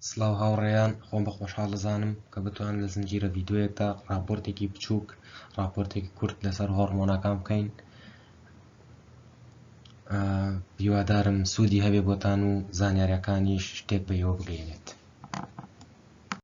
سلاو هاوڕێیان خۆم بە خۆشحاڵ دەزانم کە بتوان لە زنجیرە ڤیددیوەکە راپۆرتێکی بچووک راپۆرتێکی کورت لەسەر هۆرمۆنەکان بکەین هیوادارم سوودی هەبێ بۆتان و زانیارەکانیش شتێک بە ئێوە بگەێنێت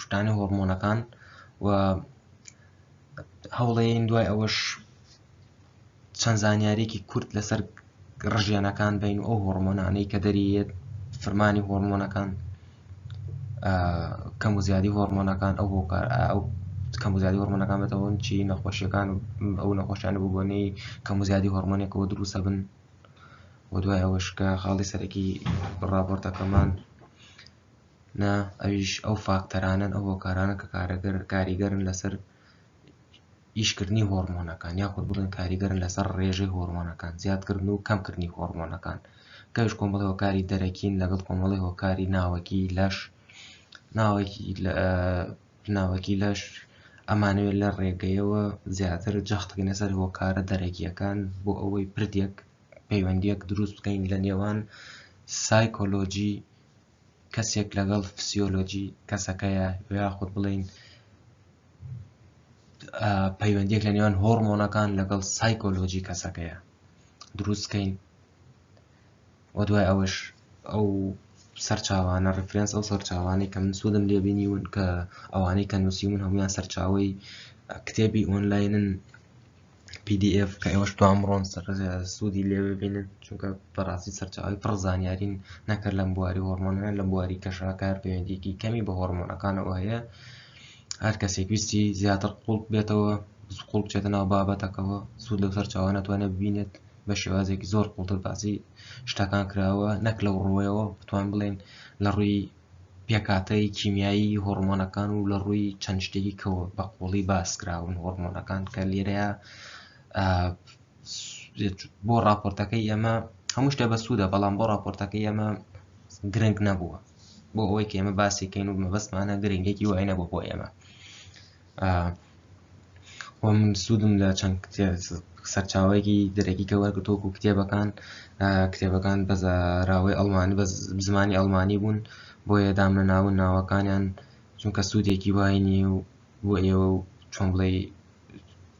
شتانی هۆرمۆنەکان و هەوڵەیەین دوای ئەوەش چەند زانیارێکی کورت لەسەر ڕژێنەکان بین و ئەو هۆرمۆنانەی کە دەریێت فرمانی هۆرمۆنەکان کەم و زیادی هۆرمۆنەکان ئەو هۆکار ئەو کەم و زیادی هۆرمۆنەکان بەتەوەن چی نەخۆشیەکان ئەو نەخۆشیانە ببوونی کەم و زیادی هۆرمۆنێکەوە دروستە بن و دوای ئەوەشکە خاڵی سەرەکی ڕاپۆرتەکەمان نا ئەویش ئەو فاکتەرانەن ئەو هۆکارانە کە کارەگەر کاریگەرن لەسەر ئیشکردنی هۆرمۆنەکان یاخود بڵێن کاریگەرن لەسەر ڕێژەی هۆرمۆنەکان زیادکردن و کەمکردنی هۆرمۆنەکان کەش کۆمەڵی هۆکاری دەرەکین لەگەڵ کۆمەڵی هۆکاری ناوەکی لەش ناوەکی ناوەکی لەش ئەمانەوێت لە ڕێگەیەوە زیاتر جەختکەین لەسەر هۆکارە دەرەکیەکان بۆ ئەوەی پردێک پەیوەندیەک دروست بکەین لە نێوان سایکۆلۆجی کەسێک لەگەڵ فسیۆلۆجی کەسەکەیە یاخود بڵین پەیوەندیەک لە نێوان هۆرمۆنەکان لەگەڵ سایکۆلۆجی کەسەکەیە دروستکەین و دوای ئەوەش ئەو سەرچاوانە ڕفرەنس ئەو سەرچاوانەی کە من سوودم لێبینیون کە ئەوانەی کە نووسیون هەمویان سەرچاوی کتێبی ئۆنلاینن pdf کە ئێوەش توان بڕۆن سوودی لێ ببینن چونکە بەڕاستی سەرچاوی پڕ زانیارین نەکرد لەم بواری هۆرمۆنە لە بواری کەشاکار پەیوەندیکی کەمی بە هۆرمۆنەکانەوە هەیە هەر کەسێک ویستی زیاتر قوڵ بێتەوە قوڵ بچێتە ناو بابەتەکەەوە سوود لەو سەرچاوە ناتوانێت ببینێت بە شێوازێکی زۆر قوڵتر باسی شتەکان کراوە نەک لەو ڕوەیەوە بتوان بڵێن لە ڕووی پێکهاتەی کیمیایی هۆڕمۆنەکان و لە ڕووی چەند شتێکی کە بە قووڵی باس کراون هۆڕمۆنەکان کە لێرەیە بۆ ڕاپۆرتەکەی ئێمە هەموو شتە بە سوودە بەڵام بۆ ڕاپۆرتەکەی ئێمە گرنگ نەبووە بۆ ئەوەی کە ئێمە باسیکەین و مەبەستمانە گرنگێکی وای نەبوو بۆ ئێمە وە من سوودم لە چەند سەرچاوەیەکی دەرەکیکە وەرگتۆک و کتێبەکان کتێبەکان بە زاراوەی ئەڵمانی بە زمانی ئەڵمانی بوون بۆیە دامە ناون ناوەکانیان چونکە سوودێکی وای نیە و بۆ ئێوە و چۆن بڵێ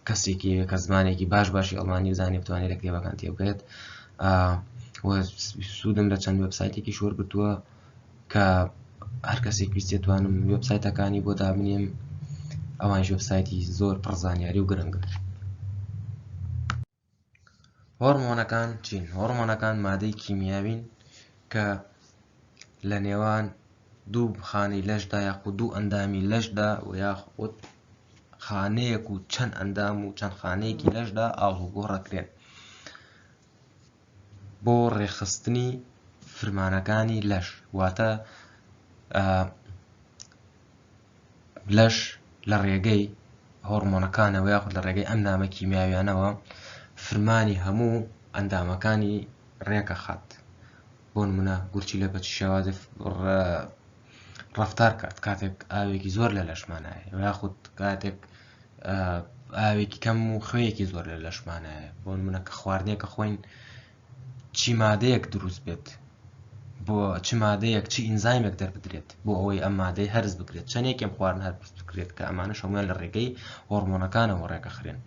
کەسێکی کە زمانێکی باش باشی ئەڵمانی بزانێت بتوانێت لە کتێبەکان تێبگەێت سوودم لە چەند وبسایتێکی شۆرگتووە کە هەر کەسێک ویست دەتوانم وێبسایتەکانی بۆ دابنێم ئەوان وێبسایتی زۆر پڕ زانیاری و گرنگە هۆرمۆنەکان چین هۆرمۆنەکان مادەی کیمیاوین کە لە نێوان دوو خانەی لەشدا یاخود دوو ئەندامی لەشدا و یاخود خانەیەک و چەند ئەندام و چەند خانەیەکی لەشدا ئاڵوگۆڕەکرێن بۆ ڕێکخستنی فرمانەکانی لەش واتە لەش لە ڕێگەی هۆرمۆنەکانەوە یاخود لە ڕێگەی ئەم نامە کیمیاویانەوە فرمانی هەموو ئەندامەکانی ڕێکە خات بۆ نمونە گورچی لە بەچی شێوازی ڕفتار کات کاتێک ئاوێکی زۆر لە لەشمانایە یاخود کاتێک ئاوێکی کەم و خوێیەکی زۆر لە لەشمانایە بۆ منە کە خواردنێکە خۆین چی مادەیەک دروست بێت بۆ چ مادەیەک چی ئینزایمێک دەربدرێت بۆ ئەوەی ئەم مادەی هەرز بکرێت چەندێکم خواردن هەر بکرێت کە ئەمانە شەمان لە ڕێگەی هۆرمۆنەکانەوە ڕێکەخرێن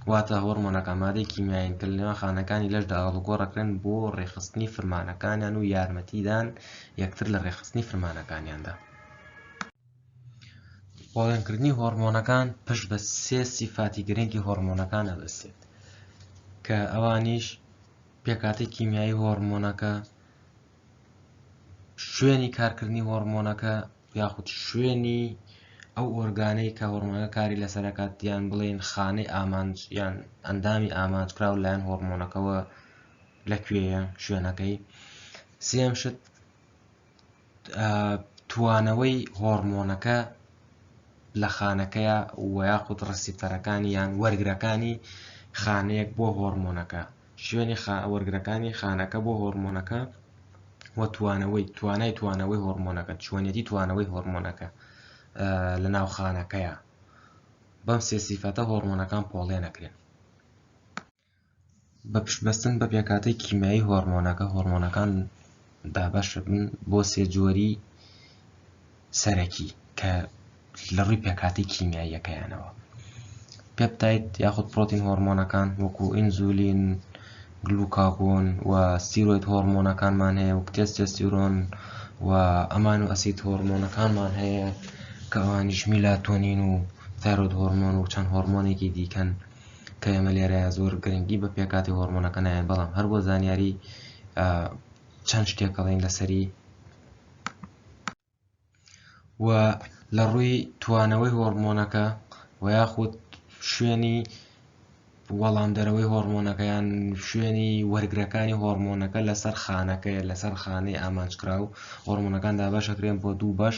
واتە هۆرمۆنەکە مادەی کیمیایین کە لەنێوان خانەکانی لەشدا هەڵگۆڕەکرێن بۆ ڕێخستنی فرمانەکانیان و یارمەتیدان یەکتر لە ڕێخستنی فرمانەکانیاندا پۆڵێنکردنی هۆڕمۆنەکان پشت بە سێ سیفاتی گرنگی هۆڕمۆنەکان ئەبەستێت کە ئەوانیش پێکاتی کیمیایی هۆڕمۆنەکە شوێنی کارکردنی هۆڕمۆنەکە یاخود شوێنی ئەو ئۆرگانەی کە هۆڕمۆنەکە کاری لەسەرکات یان بڵێن خانەی ئامانج یان ئەندامی ئامانج کراو لایەن هۆڕمۆنەکەەوە لەکوێیە شوێنەکەی سێم شت توانەوەی هۆڕمۆنەکە لە خانەکەیە و یاخود ڕسیپتەرەکانی یان وەرگرەکانی خانەیەک بۆ هۆڕمۆنەکە، شوێنی وەرگرەکانی خانەکە بۆ هۆڕمۆنەکە و توانەوەی توانای توانەوەی هۆڕمۆنەکە چۆنێتی توانەوەی هۆڕمۆنەکە لە ناو خانەکەیە بەم سێ سیفەتە هۆڕمۆنەکان پۆڵێنەکرێن. بە پشت بەستن بە پێکهاتەی کیمیایی هۆرمۆنەکە هۆرمۆنەکان دابەش دەبن بۆ سێ جۆری سەرەکی کە لە ڕووی پێکهاتەی کیمیاییەکەیانەوە پێپتایت یاخود پرۆتین هۆرمۆنەکان وەکو ئینزولین گلوکاگۆن و سیرۆید هۆرمۆنەکانمان هەیە وەک تێستێستیرۆن و ئەمان و ئەسید هۆرمۆنەکانمان هەیە کە ئەوانیش میلاتۆنین و تایرۆید هۆرمۆن و چەند هۆرمۆنێکی دیکەن کە ئێمە لێرەیا زۆر گرنگی بە پێکاتی هۆرمۆنەکە نایەن بەڵام هەر بۆ زانیاری چەند شتێکەڵین لەسەری و لە ڕووی توانەوەی هۆرمۆنەکە و یاخود شوێنی وەڵام دەرەوەی هۆرمۆنەکەیان شوێنی وەرگرەکانی هۆرمۆنەکە لەسەر خانەکەی لەسەر خانەی ئامانجکراو هۆرمۆنەکان دابەشەکرێن بۆ دوو بەش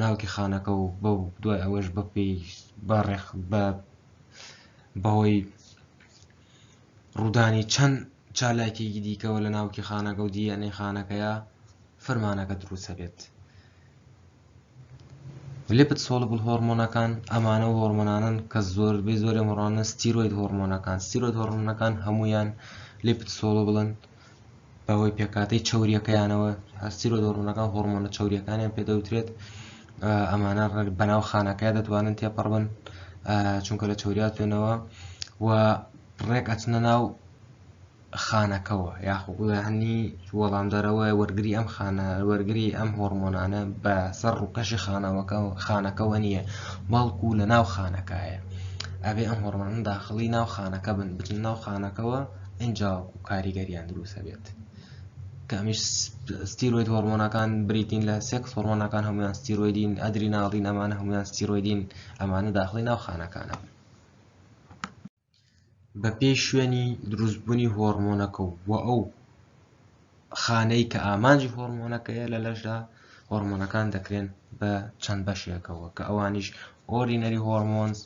ناوکی خانەکە و بەو دوای ئەوەش بە پێی بە ڕێخ بە بەهۆی ڕوودانی چەند چالاکێکی دیکەوە لە ناوکی خانەکە و دیەنەی خانەکەیە فەرمانەکە دروستە بێت لپت سۆڵبل هۆرمۆنەکان ئەمانە و هۆرمۆنانن کە زۆر بێ زۆرە مڕانە ستیرۆید هۆرمۆنەکان ستیرۆید هۆرمۆنەکان هەمویان لپت سۆڵبلن بەهۆی پێکهاتەی چەورییەکەیانەوە سیرۆدۆ ڕوونەکان هۆرمۆنە چەورییەکانیان پێ دەوترێت ئەمانە ڕێک بەناو خانەکەی دەتوانن تێپەڕ بن چونکە لە چەوریا توێنەوە و ڕێک ئەچنە ناو خانەکەەوە یاخۆهنی وەڵامدەرەوە وەرگری ئەم خانە وەرگری ئەم هۆرمۆنانە بە سەر ڕووکەشی خانەوەکە خانەکەەوە نییە بەڵکو لە ناو خانەکایە ئەبێ ئەم هۆرمۆنان داخڵی ناو خانەکە بن بچن ناو خانەکەەوە ئینجاوەک و کاریگەریان دروستە بێت کەمیش ستیرۆید هۆرمۆنەکان بریتین لە سێکس هۆرمۆنەکان هەمویان ستیرۆیدین ئەدری ناڵین ئەمانە هەمویان ستیرۆیدین ئەمانە داخلی ناو خانەکانە بە پێی شوێنی دروستبوونی هۆرمۆنەکە و ئەو خانەی کە ئامانجی هۆرمۆنەکەیە لە لەشدا هۆرمۆنەکان دەکرێن بە چەند بەشێکەوە کە ئەوانیش ئۆرینەری هۆرمۆنز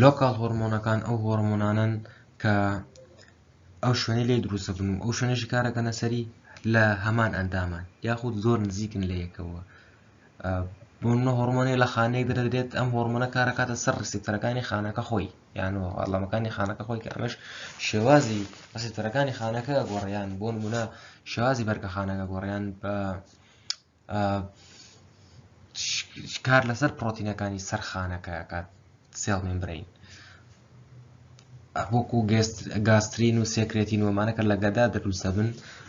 لۆکاڵ هۆڕمۆنەکان ئەو هۆڕمۆنانەن کە ئەو شوێنەی لێ دروستە بن و ئەو شوێنێکی کارەکەنە سەری لە هەمان ئەندامان یاخود زۆر نزیکن لە یەکەوە بۆن هۆڕمۆنی لە خانەی دەدرێت ئەم هۆڕمۆنە کارەکاتە سەر ڕسیپتەرەکانی خانەکە خۆی یان و ئەڵامەکانی خانەکە خۆی کە ئەمەش شێوازی ڕسیپتەرەکانی خانەکە گۆڕیان بۆن منە شێوازی بەرگە خانەکە گۆڕیان بە کار لەسەر پرۆتینەکانی سەر خانەکە کات سێڵ ممبرین وەکو گاسترین و سێکرێتی نوۆمانەکە لە گەدا دروستە بن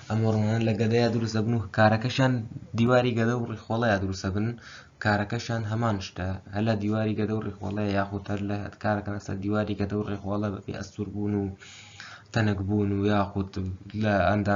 ئەمۆڕمان لە گەدەیە دروستە بن و کارەکەشان دیواری گەدە و ڕیخۆڵەیە دروستە بن کارەکەشان هەمان شتە هەلا دیواری گەدە و ڕیخۆڵەیە یاخود هەر لە کارەکە لەسەر دیواری گەدە و ڕێخۆڵە بەبێ ئەستور بوون و تەنک بوون و یاخود لە ئەندا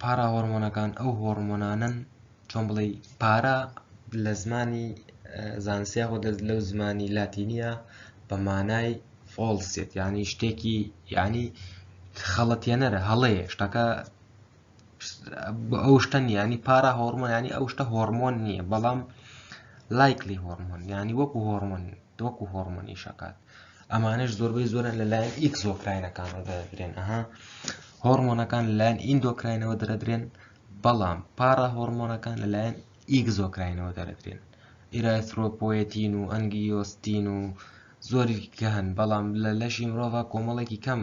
پاراهۆرمۆنەکان ئەو هۆرمۆنانەن چۆن بڵێ پارا لە زمانی زانستی خۆ دەست لەو زمانی لاتینیە بە مانای فۆڵسێت ینی شتێکی ینی خەڵەتێنەرە هەڵەیە شتەکە ئەو شتە نیانی پارا هۆرمۆنانی ئەو شتە هۆرمۆن نییە بەڵام لایکلی هۆرمۆن ینی وەکو هۆرمۆن دۆکو هۆرمۆنی شکات ئەمانش زۆربەی زۆرە لەلایەن ئیکس زۆکراینەکانەوە دەدرێن ئەها هۆرمۆنەکان لەلایەن ئیندۆکراینەوە دەدرێن بەڵام پارا هۆرمۆنەکان لەلایەن ئیک زۆکراینەوە دەدرێن ئیرایسرۆپۆەتین و ئەنگیۆستین و زۆری کە هەن بەڵام لە لەشی مرۆڤ کۆمەڵێکی کەم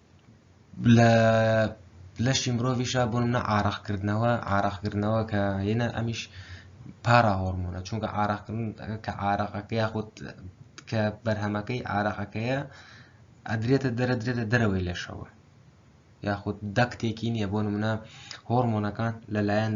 لە لەشی مرۆڤیشا بۆ منە ئارەقکردنەوە ئارەقکردنەوە کە یەنە ئەمیش پارا هۆرمونە چونکە ئارەقکردن کە ئارەقەکە یاخود کە بەرهەمەکەی ئارەقەکەیە ئەدرێتە دەرە درێتە دەرەوەی لەشەوە یاخود دەکتێکی نییە بۆ منە هۆرمۆنەکان لەلایەن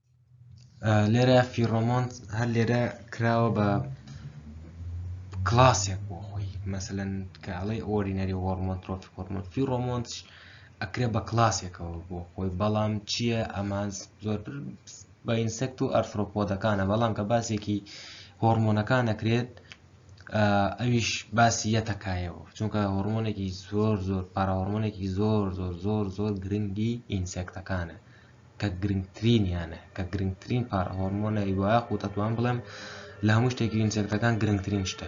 لێرە فیڕۆمۆنت هەر لێرە کراوە بە کلاسێک بۆ خۆی مەسەن کاڵی ئۆرینەری هۆرمۆن ترۆفی هۆرمۆن فیڕۆمۆنت ئەکرێ بە کلاسێکەوە بۆ خۆی بەڵام چییە ئەمان زۆر بە ئینسەکت و ئەرفۆپۆدەکانە بەڵام کە باسێکی هۆرمۆنەکان نەکرێت ئەویش باسی یەتەکایەوە چونکە هۆرمۆنێکی زۆر زۆر پاراهۆرمۆنێکی زۆر زۆر زۆر زۆر گرنگی ئینسەکتەکانە کە گرنگترینیانە، کە گرنگترین پارە هۆرمۆنە، یاخود ئەتوانم بڵێم لە هەموو شتێک ئینسێکتەکان گرنگترین شتە.